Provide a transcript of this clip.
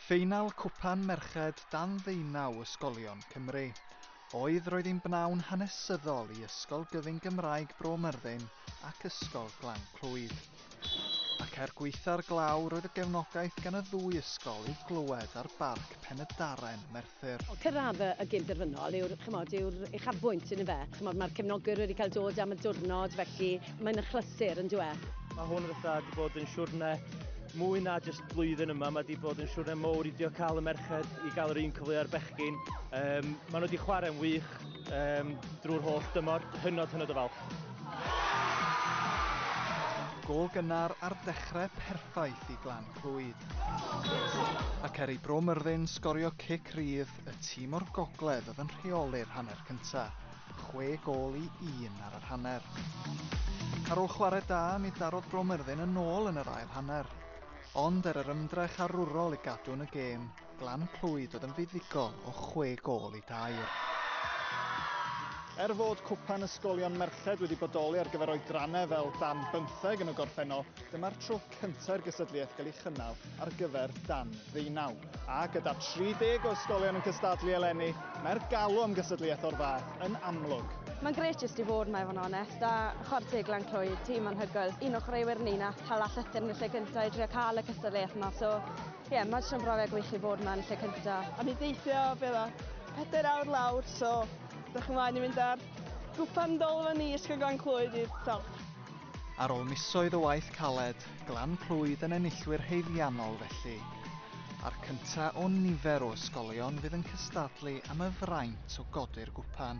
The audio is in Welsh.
Ffeinal Cwpan Merched dan ddeunaw ysgolion Cymru oedd roedd yn bnawn hanesyddol i Ysgol Gyfun Gymraeg Bro Myrddin ac Ysgol Glan Clwyd. Ac er gwaetha'r glaw roedd y gefnogaeth gan y ddwy ysgol i'w glywed ar Barc Pen-y-Darren, Merthyr Fair. Cyrraedd y gyn-derfynol yw'r, chimod, yw'r uchafbwynt, yn ife? Chimod, mae'r cefnogwyr wedi cael dod am y diwrnod, felly mae'n achlysur, yn dyw e? Mae hwn fatha 'di bod yn siwrne mwy na jyst blwyddyn yma, mae 'di bod yn siwrne mowr i dio cael y merched i gael yr un cyfle a'r bechgyn. Um, mae nhw wedi chwarae'n wych um, drwy'r holl dymor, hynod hynod o falch. Gol gynnar ar dechrau perffaith i Glan. Clwyd. Ac er i Bro Myrddin sgorio cic rydd, y tîm o'r gogledd oedd yn rheoli'r hanner cyntaf, chwe gol i un ar yr hanner. Ar ôl chwarae da, mi darodd Bro Myrddin yn ôl yn yr ail hanner. Ond er yr ymdrech arwrol i gadw yn y gêm, Glan Clwyd oedd yn fuddugol o chwe gol i dair. Er fod cwpan ysgolion merched wedi bodoli ar gyfer oedrannau fel dan bymtheg yn y gorffennol, dyma'r tro cyntaf i'r gysadliaeth gael ei chynnal ar gyfer dan ddeunaw. A gyda 30 o ysgolion yn cystadlu eleni, mae'r galw am gysadliaeth o'r fath yn amlwg. Mae'n gret jyst i fod, mae fo'n onest, a chwarae teg Glan Clwyd, tîm anhygoel. Un o chwaraewyr ni nath hala llythyr yn y lle cyntaf i drio cael y cystadleuaeth yma, so Ie, yeah, mae jyst yn brofiad gwych i fod mae'n lle cynta. A mi deithio fel o pedair awr lawr, so dych chi'n mlaen i fynd ar gwpan dol fan ni ysgol Glan Clwyd i'r top. Ar ôl misoedd o waith caled, Glan Clwyd yn enillwyr haeddiannol felly, a'r cynta o nifer o ysgolion fydd yn cystadlu am y fraint o godi'r gwpan.